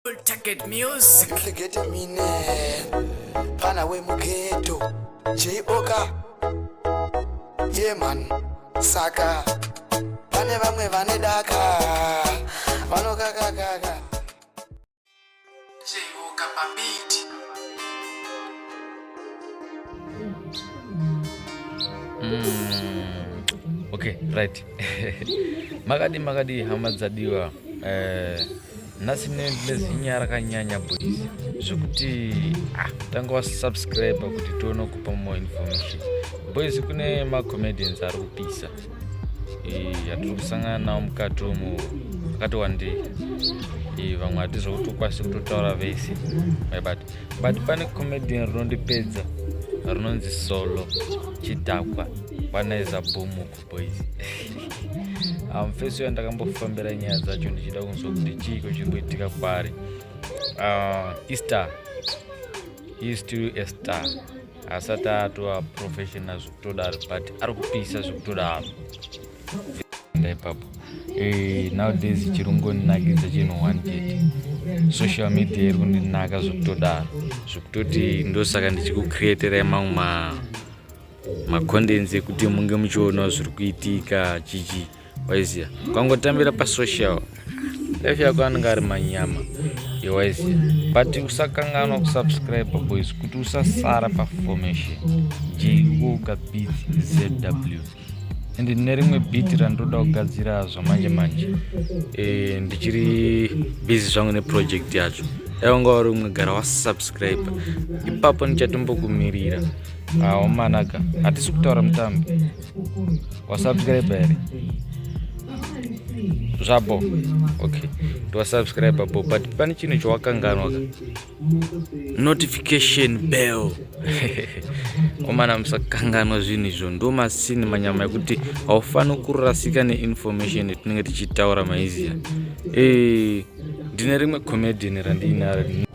Target music. Target mine. Pana we mugeto. J Oka. Yeah man. Saka. Pane vamwe vane daka. Vanokaka kaka. J Oka pabiti. Mm. Okay, right. makadi makadi hama dzadiwa. Eh nhasi nezinya rakanyanya boys zvekuti ah, tanga wasubscribe kuti tione kupa more information boys kune macomedians ari kupisa yatiri kusangana nawo mukati umu akati wandei vamwe hati zvekutokwanisi kutotaura vese but but pane comedian rinondipedza rinonzi solo chidhakwa kwanaiza bhumuko boys um, first uya ndakambofambira nyaya dzacho ndichida kunzwa kuti chiiko chiri kuitika kwaari uh, easter he still a star asati atova professional zvekutodaro but ari kupisa zvekutodaro ipapo eh, nowdays chiri kungoninakidza chinhu one chete social media iri kundinaka zvekutodaro zvekutoti ndosaka ndichikucreaterai mamwe ma makondenzi ekuti munge muchionawo zviri kuitika chichi waiziya ukangotambira pasocial life yako anenge ari manyama yewaiziya but usakanganwa kusubscribe boys kuti usasara paformation jwoka bit zw and nerimwe bit randoda kugadzira zvamanje manje e, ndichiri busy zvangu neproject yacho dai wanga wari umwe gara wasubscribe ipapo ndichatombokumirira aomanaka hatisi kutaura mutambi wasubscribe here zvabo okay ndiwasubscribe bo but pane chinhu chawakanganwa ka notification bell omana musakanganwa zvinhu izvo ndo masini manyama ekuti haufaniri kurasika neinformation yatinenge tichitaura maiziya ee eh, ndine rimwe comedian randiinaro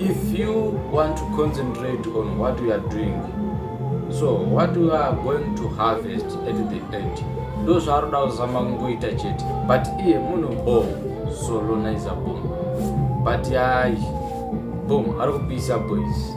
If you want to concentrate on what you are doing, so what you are going to harvest at the end, ndo zvaanoda kuzama kungoita chete but iye muno bom solonaiza bom but yayi bom ari kupisa boys